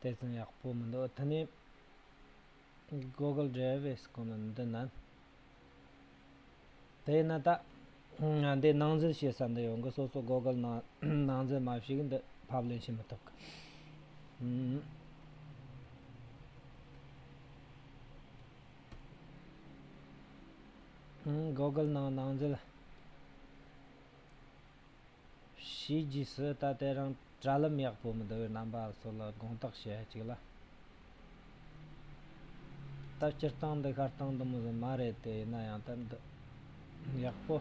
དེ་ཙམ་ཡག་པོ་མི་འདུག་ད་ནི Google Drive ཨེ་སྐོར་མིན་འདི་ན་དེ་ན་ད་འདི་སྣང་འཛིན་བྱེད་ས་འདི་ཡོང་གི་སོ་སོ Google ནང་སྣང་འཛིན་མ་བྱས་གི་འདི་ཕབ་ལེན་བྱེད་མི་ཐུབ་གི Google ནང་སྣང་འཛིན་ཞེས་རྗེས་སུ་ད་ལྟའི་རང་གྲྭ་ལམ་ཡག་པོ་མི་བསྡུ་བའི་རྣམ་པ་སོགས་ལ་དགོངས་དག་བྱེད་ཡ་གཅིག་ལ། ད་སྤྱིར་བཏང་འདི་ཤར་སྟངས་དུ་མི་བཟོ་མ་རེད་དེ་ཡིན་ན་ཡང་ད་འདི་ཡག་པོ།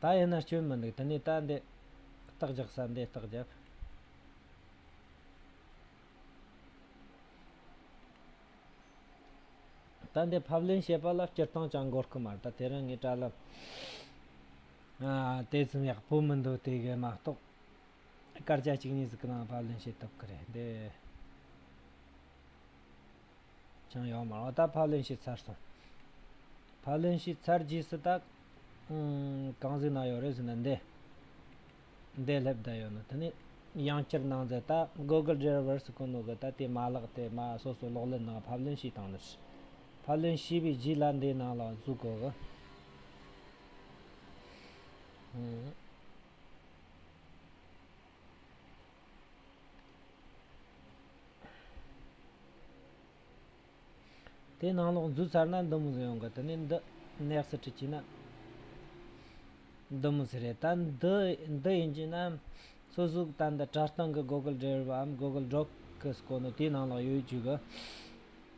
ད་ཡིན་ན་སྐྱོན་མི་འདུག་དེ་ནས་ད་འདི་རྟགས་རྒྱག་ས་འདི་རྟགས་བརྒྱབ། ད་ནི་ཕབ་ལེན་བྱེད་པ་ལ་སྤྱིར་བཏང་ཅང་གོ་སྐུ་མར་ད་དེ་རང་ངས་བཀྲ་ལབ། དེ་ཙམ་ཡག་པོ་མི་འདུག་དེ་གས་མ་གཏོགས། སྐར་ཆ་གཅིག་གཉིས་གཟིགས་གི་ནང་ཕབ་ལེན་བྱེད་ཐུབ་ཀི་རེད་འདི། ཅང་ཡག་མ་རང་ད་ཕབ་ལེན་བྱས་ཚར་སོང། ཕབ་ལེན་བྱས་ཚར་རྗེས་སུ་ད། གང་གཟིགས་ན་ཡོད་རེད་ཟེར་ན་འདི། འདས་ལྷོད་བསྡད་ཡོད་ནོ། དེ་ནས་ཡང་བསྐྱར་ནང་མཛད་ད Google Driver's བཀོད་ནོ་གི་ད་དེ་མ་བཀླགས་ཏེ་མ་སོ་སོ་ལོག་ལེན་ནང་ཕབ་ལེན་ཞིག་བཏང་ནོ། ཕབ་ལེན་ཞུས་པའི་རྗེས་ལ་འདིའི་ནང་ལ་གཟུགས་གོ་གི། དེ་ནང་ལོགས་འཛུལ་ཚར་ན་འདུ་མི་ཟེར་ཡོང་གི་དེ་ནས་འདི next hit བྱས་ན་འདུ་མི་ཟེར་རེད་ད་འདི་འདི་ཡིན་བྱས་ན་སོ་གཟུགས་ད་འདི་དྲ་སྟེང་གི Google Driver འམ Google Doc གི་སྐོར་ནས་དེའི་ནང་ལོགས་ཡོད་ཡོད་བྱོས་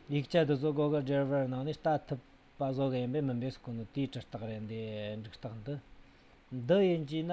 གི། ཡིག་ཆ་འདི་ཚོ Google Driver ནང་ནས་ལྟ་ཐུབ་པ་བཟོ་གི་ཡིན་པས་མིན་པའི་སྐོར་ནས་དེའི་དྲི་རྟགས་རེད་འདའི་འགྲིག་རྟགས་འདི་འདི་ཡིན་བྱས་ན།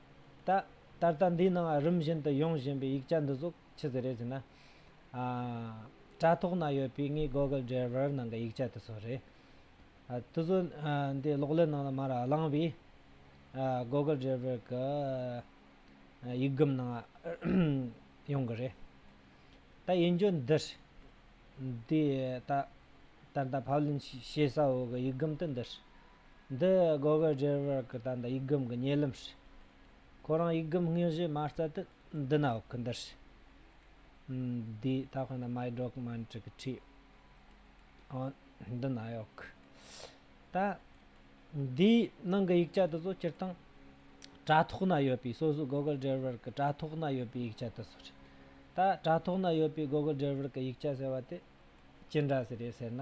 ད་ད་ལྟ་འདིའི་ནང་རིམ་བཞིན་དུ་ཡོང་བཞིན་པའི་ཡིག་ཆ་འདི་ཟུག་ཆི་ཟི་རེད་ཟེར་ན། དྲ་ཐོག་ན་ཡོད་པའི་ངའི Google Driver ནང་གི་ཡིག་ཆ་དེ་ཚོ་རེད། དེ་ཚོ་འདི་གློག་ཀླད་ནང་ལ་མར་བླངས་པས། Google Driver གི་ཡིག་སྒམ་ནང་ཡོང་གི་རེད། ད་ཡིན་རྒྱུ་འདིར། འདི་ད་ད་ལྟ་ཕབ་ལེན་བྱེད་ས་འོག་གི་ཡིག་སྒམ་དེ་འདིར། འདི་གོ་གི་རྒྱལ་བུ་རག་གི་དང་དུ་ཡིག་སྒམ་གི་ཉེ་ལམ་ཞིག། ཁོ་རང་ཡིག་སྒམ་སྔས་བཞེས་མ་རྩ་དུ་འདི་ན་འོག་གི་འདིར་ཞིག། འདི་ད་ཁོ་ན་མའི་སྒྲོག་མ་འདྲི་གི་ཁྲིད། འདི་ན་གཡོག་གི། ད། འདིའི་ནང་གི་ཡིག་ཆ་དེ་ཚོ་སྤྱིར་བཏང། དྲ་ཐོག་ན་ཡོད་པའི་སོ་སོའི་གོ་གི་རྒྱལ་བུ་རག་གི་དྲ་ཐོག་ན་ཡོད་པའི་ཡིག་ཆ་དེ་ཚོ་རེད། ད་དྲ་ཐོག་ན་ཡོད་པའི་གོ་གི་རྒྱལ་བུ་རག་གི་ཡིག་ཆ་ཟེར་བ་དེ་ཅི་འདྲ་ཟེར་ཡོད་ཟེར་ན།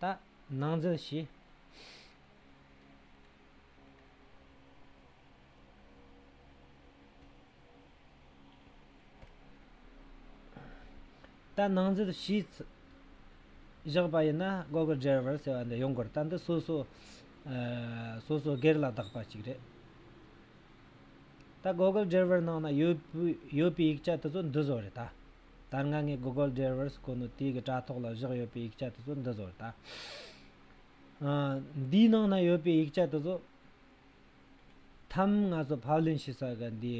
ལྟ། སྣང་འཛིན་བཞི། ལྟ་སྣང་འཛིན་བཞིས་བཞག་པ་ཡིན་ན་སྒོ་གི་སྒྲེར་བར་ཟེར་བ་འདི་ཡོང་དགོས་རེད་ལྟ་འདི་སོ་སོ་སོ་སོ་སྒེར་ལ་གདགས་པ་ཅིག་རེད། ལྟ་སྒོ་གི་སྒྲེར་བར་ནང་ན་ཡོད་པའི་ཡིག་ཆ་དེ་ཚོ་འདི་ཟོ་རེད་ལྟ། ད་ང་ངའི Google Drivers ཁོ་ནའི་དེ་གི་དྲ་ཐོག་ལ་བཞག་ཡོད་པའི་ཡིག་ཆ་དེ་ཚོ་འདི་ཟོར་ལྟ། འདིའི་ནང་ན་ཡོད་པའི་ཡིག་ཆ་དེ་ཚོ་ཐམས་ང་ཚོ་ཕབ་ལེན་བྱེད་ས་ག་འདི་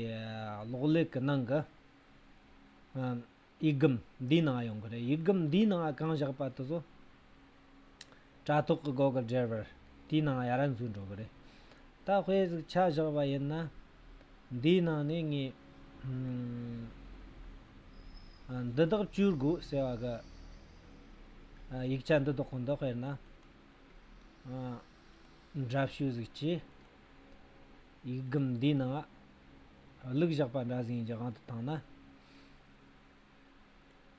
གློག་ཀླད་གི་ནང་གི་ཡིག་སྒམ་འདིའི་ནང་ཡོང་གི་རེད་ཡིག་སྒམ་འདིའི་ནང་གང་བཞག་པ་དེ་ཚོ། དྲ་ཐོག་གི་སྒོ་ཁར་སྦྲེལ་བར། དེའི་ནང་ཡ་རབས་འཛུལ་འགྲོ་གི་རེད། ད་དཔེ་གཟིགས་ཆ་བཞག་པ་ཡིན་ན། འདིའི་ནང་ནས་ངས། འདི་དག་བཅོས་དགོས་ཟེར་བ་གི། ཡིག་ཆ་འདི་དག་གོ་འདི་དཔེར་ན། འདྲ་བཤུས་གཟིགས་ཀྱིས། ཡིག་སྒམ་འདིའི་ནང། གླུག་བཞག་པ་འདྲ་ཟིན་གྱི་དབང་དུ་བཏང་ན།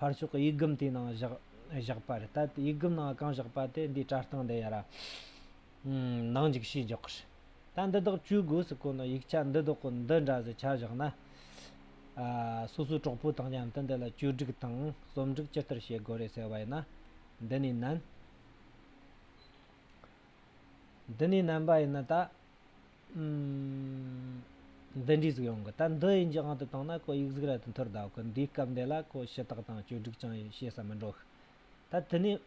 ཕར་ཕྱོགས་ཀྱི་ཡིག་སྒམ་དེའི་ནང་བཞག་པར་ལྟ། ཡིག་སྒམ་ནང་གང་བཞག་པ་དེ་འདིའི་བཀྲ་བཏང་འདི་ཡར་ནང་འཇུག་ཤེས་འཇོག་གི་རེད། ད་འདི་དག་བཅོས་དགོས་སུ་དཀོན་ན་ཡིག་ཆ་འདི་དག་གི་འདི་འདྲ་ཟེར་ཆ་བཞག་ན། སོ་སོའི་གྲོགས་པོ་དང་མཉམ་དུ་འདི་ལ་བཅོས་སྒྲིག་དང་རྩོམ་སྒྲིག་ཇི་ལྟར་བྱེད་དགོས་རེད་ཟེར་བ་ཡིན་ན། འདི་ནས་ནན། འདི་ནས་ནན་པ་ཡིན་ན་ད། འདི་འདྲའི་གཟུགས་ཡོང་གི་ད་འདི་ཡི་འཇིག་དབང་དུ་བཏང་ན་ཁོ་ཡིག་གཟུགས་རལ་དུ་འཐོར་གདའ་གི་འདིའི་སྐབས་འདི་ལ་ཁོ་ཞུ་དག་དང་བཅོས་སྒྲིག་ཅང་བྱེད་ས་མི་འགྲོ་གི་ད་དེ་ནས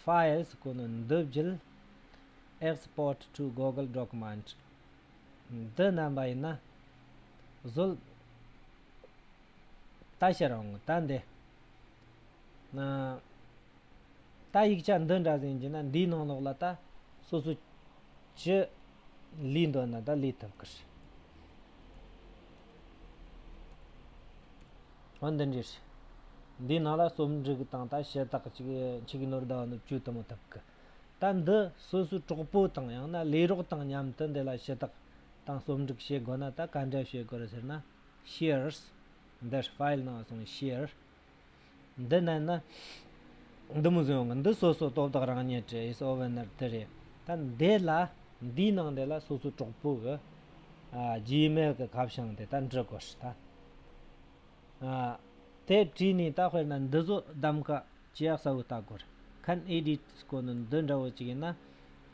Files ཁོ་ནས་འདི་བརྒྱུད Export to Google Document འདི་བསྣན་པ་ཡིན་ན་བཟོད་ལྟ་བྱེད་རུང་ད་འདི་ན། ད་ཡིག་ཆ་འདི་འདྲ་ཟིན་རྒྱུ་ན་འདིའི་ནང་ལོགས་ལ་ད་སོ་སོ་ཇི་ལུས་འདོད་ན་ད་ལུས་ཐུབ་ཀི་རེད། འོན་ཏེ་འདྲིས་འདིའི་ནང་ལ་རྩོམ་སྒྲིག་གི་སྟངས་དང་བྱེད་སྟངས་ཅིག་ཆིག་གི་ནོར་ཟླ་བ་ནུབ་བཅུ་དུ་མ་ཐུབ་ཀི། ད་འདི་སོ་སོའི་གྲོགས་པོ་དང་ཡང་ན་ལས་རོགས་དང་མཉམ་དུ་འདི་ལ་ཞུ་དག་དང་རྩོམ་སྒྲིག་བྱེད་དགོས་ན་ད་ག་འདྲ་བྱེད་དགོས་རེད་ཟེར་ན། Shears། འདིར file ནང་སོང Shears། འདི་ནས་ན། འདི་མི་བཟོད་འོང་གི་འདི་སོ་སོའི་སྟོབས་དག་རང་ཉིད་ཀྱི་ཨིསོ་བྷན་ནར་དེ་རེད། ད་འདི་ལ་འདིའི་ནང་དེ་ལ་སོ་སོའི་གྲོགས་པོ་གི། རྗེས་མེད་གི་གབ་བྱང་དེ་ད་འབྲི་དགོས་ཧྲི་ད། དེ་བྲིས་ནས་ད་དཔེར་ན་འདི་བཟོ་གདམ་ཀ་ཇི་ཡག་གསལ་བོ་བལྟ་དགོས་རེད། ཁན་ཨེ་ལི་ཏི་སྐོར་ནི་འདི་འདྲ་བོ་ཅིག་ཡིན་ན།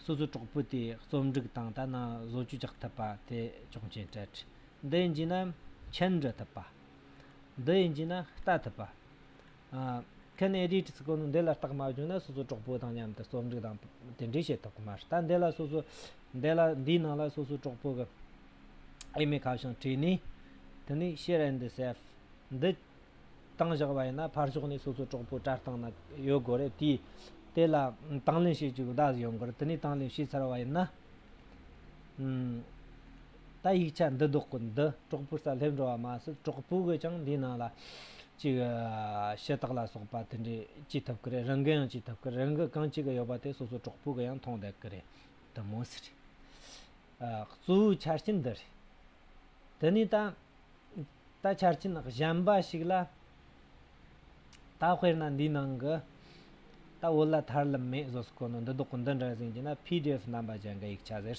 སོ་སོའི་གྲོགས་པོ་དེའི་རྩོམ་སྒྲིག་དང་ད་ནང་བཟོ་བཅོས་རྒྱག་ཐུབ་པ་དེ་ཆོག་མཆན་སྤྲད་ཧྲི། འདི་འབྱིན་ན་མཆན་འབྲི་ཐུབ་པ། འདི་ཡིན་གྱིས་ན་ལྟ་ཐུབ་པ། ཁྱེད་ནས་རིས་བྲིས་སྐོར་ནས་འདི་ལ་བརྟག་མ་བྱུང་ན་སོ་སོའི་གྲོགས་པོ་དང་མཉམ་དུ་རྩོམ་རིག་དང་དེ་འབྲེལ་བྱེད་ཐུབ་ཀྱི་མ་རེད་ད་འདི་ལ་སོ་སོ། འདི་ལ་འདིའི་ནང་ལ་སོ་སོའི་གྲོགས་པོ་གི་ཨེ་མའི་ཁ་བྱང་བྲིས་ནས། དེ་ནས share and save འདི་བཏང་བཞག་པ་ཡིན་ན་ཕར་ཕྱོགས་ནས་སོ་སོའི་གྲོགས་པོ་བཀྲ་བཏང་ན་ཡོད་དགོས་རེད་དེ། དེ་ལ་དང་ལེན་བྱེད་ཅིག་གདའ་ཡོང་གི་རེད་དེ་ནས་དང་ལེན་བྱས་ཚར་བ་ཡིན་ན། ད་ཡིག་ཆ་འདི་བདོག་གི་འདི་གྲོགས་པོའི་སར་སླེབས་འགྲོ་བ་མ་ཟད་གྲོགས་པོ་གིས་ཀྱང་འདིའི་ནང་ལ་ཅིག་ཤེས་རྟགས་ལ་སོགས་པ་དེ་འདྲས་ཅི་ཐུབ་ཀི་རེད་རང་གི་ཡང་ཅི་ཐུབ་ཀི་རེད་རང་གི་གང་ཅི་གི་ཡོད་པ་དེ་སོ་སོའི་གྲོགས་པོ་གི་ཡང་མཐོང་བསྡད་ཀི་རེད་དུ་མོ་ཟེར། གཙོ་བོའི་ཆ་རྐྱེན་འདི་རེད། དེ་ནས་ད། ད་ཆ་རྐྱེན་གཞན་པ་ཞིག་ལ། ད་དཔེར་ན་འདིའི་ནང་གི། ད་བོད་ལ་ཐར་ལམ་མེད་བཟོ་སི་ཁོ་ནོ་འདི་བདོག་གི་འདི་འདྲ་ཟིན་གྱི་ན pdf རྣམ་པ་ཅན་གི་ཡིག་ཆ་ཟེར།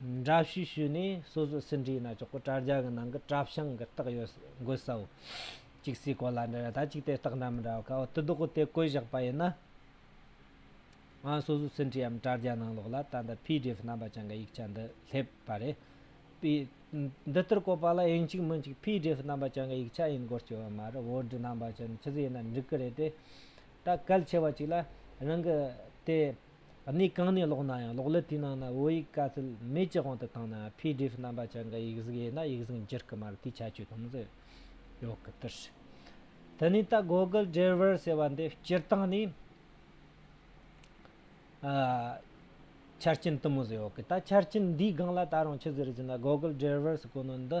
འདྲ་བཤུས་ཞུས་ནས་སོ་སོའི་ཟིན་བྲིས་ན་ཆོག་གོ་དྲ་རྒྱ་གི་ནང་གི་དྲ་བྱང་གི་རྟགས་ཡོད་དགོས་སའོ། གཅིག་སའི་གོ་ལ་འདྲ་རེད་ད་གཅིག་དེ་རྟགས་འདྲ་མི་འདྲ་བ་ག་བ་དུ་བདོག་གོ་དེ་བཀོད་བཞག་པ་ཡིན་ན། ང་སོ་སོའི་ཟིན་བྲིས་འམ་དྲ་རྒྱ་ནང་ལོག་ལ་ད་ལྟ PDF རྣམ་པ་ཅན་གི་ཡིག་ཆ་འདི་སླེབས་པ་རེད། པི། འདི་ལྟར་བཀོད་པ་ལ་དབྱིན་གཅིག་མིན་གཅིག PDF རྣམ་པ་ཅན་གི་ཡིག་ཆ་ཡིན་སྐོར་བསྐྱོན་ཡོད་མ་རེད་བོད་འབྲི་རྣམ་པ་ཅན་ནི་ཇི་ཙི་ཡིན་ན་འགྲིག་གི་རེད་དེ། ད་གལ་ཆེ་བ་གཅིག་ལ་རང་གི་དེ། གནས་གང་ནས་ཀློག་ན་ཡང་ཀློག་ཀླད་དེའི་ནང་ན་བོད་ཡིག་དཀའ་ཚེགས་མེད་ཀྱི་དབང་དུ་བཏང་ན pdf རྣམ་པ་ཅན་གྱི་ཡིག་གཟུགས་ཡོད་ན་ཡིག་གཟུགས་འགྱུར་གི་མ་རེད་དེའི་ཁྱད་ཆོས་དང་འཛོལ་ཡོད་གི་ལྟར། དེ་ནས་ད Google Driver ཟེར་བ་འདི་སྤྱིར་བཏང་ནས་ཆ་རྐྱེན་དུ་མ་བཟོས་ཡོད་གི་ད་ཆ་རྐྱེན་འདིའི་སྒང་ལ་ད་རུང་ཆུ་ཟེར་བཞིན་ན Google Driver གོ་ནོར་འདི་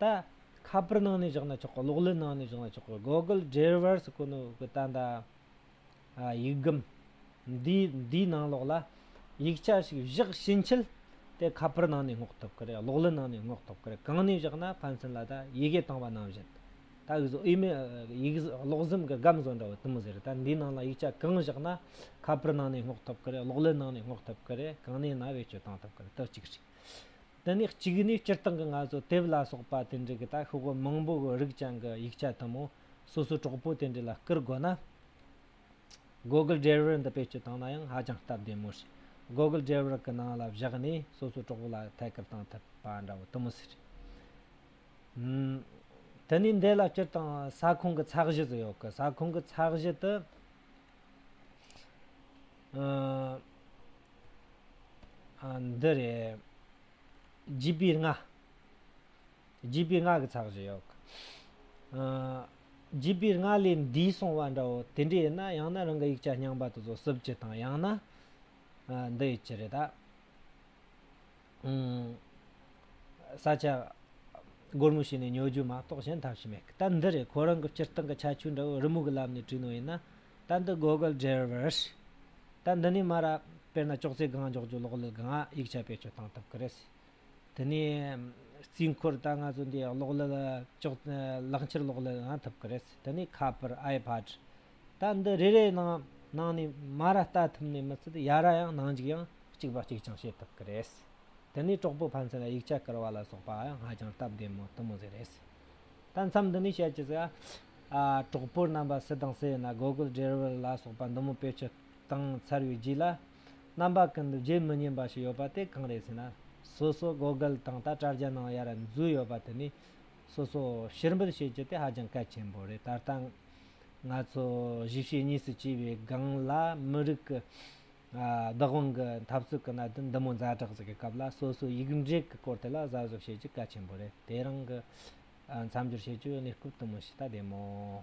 ད། ཁ་པར་ནང་ནས་བཞག་ན་ཆོག་གི་གློག་ཀླད་ནང་ནས་བཞག་ན་ཆོག་གི Google Driver's དགོས་ནི་དགོས་ད་ད། ཡིག་སྒམ། འདི་འདིའི་ནང་ལོགས་ལ། ཡིག་ཆ་ཞིག་བཞག་ཕྱིན་ཆད། དེ་ཁ་པར་ནང་ནས་སྔོག་ཐུབ་ཀི་རེད་གློག་ཀླད་ནང་ནས་སྔོག་ཐུབ་ཀི་རེད་གང་ནས་བཞག་ན་ཕན་ཚུན་ལ་ད་ཡི་གེ་བཏང་བ་ནང་བཞིན། ད་གིས་སུ་ཨི་མེ་ཡིག་གློག་གཟིམ་གི་སྒམ་བཟོ་འདྲ་བོ་དུམ་ཟེར་ད་འདིའི་ནང་ལ་ཡིག་ཆ་གང་བཞག་ན། ཁ་པར་ནང་ནས་སྔོག་ཐུབ་ཀི་རེད་གློག་ཀླད་ནང་ནས་སྔོག་ཐུབ་ཀི་རེད་གང་ནས་ན་བེད་སྤྱོད་བཏང་ཐུབ་ཀི་རེད་དོ་གཅིག་རེད། དེ་ནས་གཅིག་ནས་སྤྱིར་བཏང་གི་ང་ཚོ་དེབ་ལ་སོགས་པ་དེ་འདྲའི་གི་ད་ཤོ་གོ་མང་པོ་གི་རིགས་ཅན་གི་ཡིག་ཆ་དུ་མོ་སོ་སོའི་གྲོགས་པོ་དེ་འདྲའི་ལ་བསྐུར་དགོས་ན། Google Driver འདི་བེད་སྤྱོད་བཏང་ན་ཡང་ཧ་ཅང་སྟབས་བདེ་མོ་རེད། Google Driver གི་ནང་ལ་བཞག་ནས་སོ་སོའི་གྲོགས་པོ་ལ་ཐད་ཀར་བཏང་ཐུབ་པ་འདྲ་བོ་དུ་མོ་ཟེར། དེ་ནས་འདི་ལ་སྤྱིར་བཏང་ས་ཁོངས་ཀྱི་ཚགས་གཞི་ཟེར་ཡོད་གི་ས་ཁོངས་ཀྱི་ཚགས་གཞི་དུ། འདི་རེད། བརྗིད་པའི་རྔ། བརྗིད་པའི་རྔ་གི་ཚགས་བཞི་ཡོད། བརྗིད་པའི་རྔ་ལས་འདས་སོང་བ་འདྲ་བོ་དེ་འདྲས་ཡིན་ན་ཡང་ན་རང་གི་ཡིག་ཆ་རྙིང་པ་དེ་ཚོ་བསུབ་ཅི་དང་ཡང་ན་འདི་ཡིན་གྱི་རེད་ད། ས་ཆ་སྒོར་མོ་ཞིག་ནས་ཉོ་རྒྱུ་མ་གཏོགས་གཞན་ཐབས་ཤིག་མེད་གི། ད་འདི་རེད་ཁོ་རང་གི་སྤྱིར་བཏང་གི་ཁྱད་ཆོས་འདྲ་བོ་རི་མོ་གི་ལམ་ནས་བྲིས་ནོ་ཡིན་ན་ད་འདི Google Driver's ད་འདི་ནས་མར་དཔེར་ན་ཅོག་ཙེ་སྒང་འཇོག་རྒྱུ་ལོག་ལུས་སྒང་ཡིག་ཆ་བེད་སྤྱོད་བཏང་ཐུབ་ཀི་རེད། དེ་ནས་རྩིས་འཁོར་ད་ང་ཚོ་འདི་ལོག་ལུས་ཅོག་ལག་འཁྱེར་ལོག་ལུས་ཡང་ཐུབ་ཀི་རེད། དེ་ནས་ཁ་པར iPad ད་འདི་རེ་རེ་ནང་ནང་ནས་མ་ར་ལྟ་ཐུབ་ནས་མི་ཚེ་ཡ་ར་ཡང་ནང་འཇུག་ཡང་གཅིག་པ་གཅིག་ཀྱང་བྱེད་ཐུབ་ཀི་རེད། དེ་ནས་གྲོགས་པོ་ཕན་ཚུན་ལ་ཡིག་ཆ་བསྐུར་བ་ལ་སོགས་པའང་ཧ་ཅང་སྟབས་བདེ་མོ་དུ་མོ་ཟེར་རེད། ད་མཚམས་འདི་ནས་བཤད་ཅི་ཟེར། གྲོགས་པོ་རྣམ་པ་སུ་དང་སུ་ཡོད་ན་སྒོ་ཀུན་བསྒྲལ་བར་ལ་སོགས་པ་འདི་མོ་དཔེ་ཆོས་གང་འཚར་བའི་རྗེས་ལ། རྣམ་པ་ཀུན་ཏུ་བརྗེད་མི་ཉན་པ་ཞིག་ཡོད་པ་དེ་གང་རེད་ཟེར་ན། སོ་སོ་སྒོ་སྒལ་དང་ད་དཀྲ་རྒྱ་ནང་ཡར་འཛུལ་ཡོད་པ་དེ་ནི། སོ་སོ་ཕྱིར་འབུད་བྱེད་རྒྱུ་དེ་ཧ་ཅང་གལ་ཆེན་པོ་རེད་ད་ལྟ། ང་ཚོ་གཞིས་བྱེས་གཉིས་སུ་གྱེས་པའི་སྒང་ལ་མི་རིགས་ཀྱི། བདག་དབང་གི་འཐབ་རྩོད་ཀྱི་གནད་དོན་འདི་མོ་མཛའ་གྲགས་ཅིག་གི་སྐབས་ལ་སོ་སོའི་ཡིག་འབྲེལ་གྱི་སྐོར་དེ་ལ་གཟབ་གཟབ་བྱེད་རྒྱུ་གལ་ཆེན་པོ་རེད་དེ་རང་གི་མཚམས་སྦྱོར་བྱེད་རྒྱུའི་གནས་སྐབས་དུ་མ་ཞིག་ལྟ་བདེ་མོད།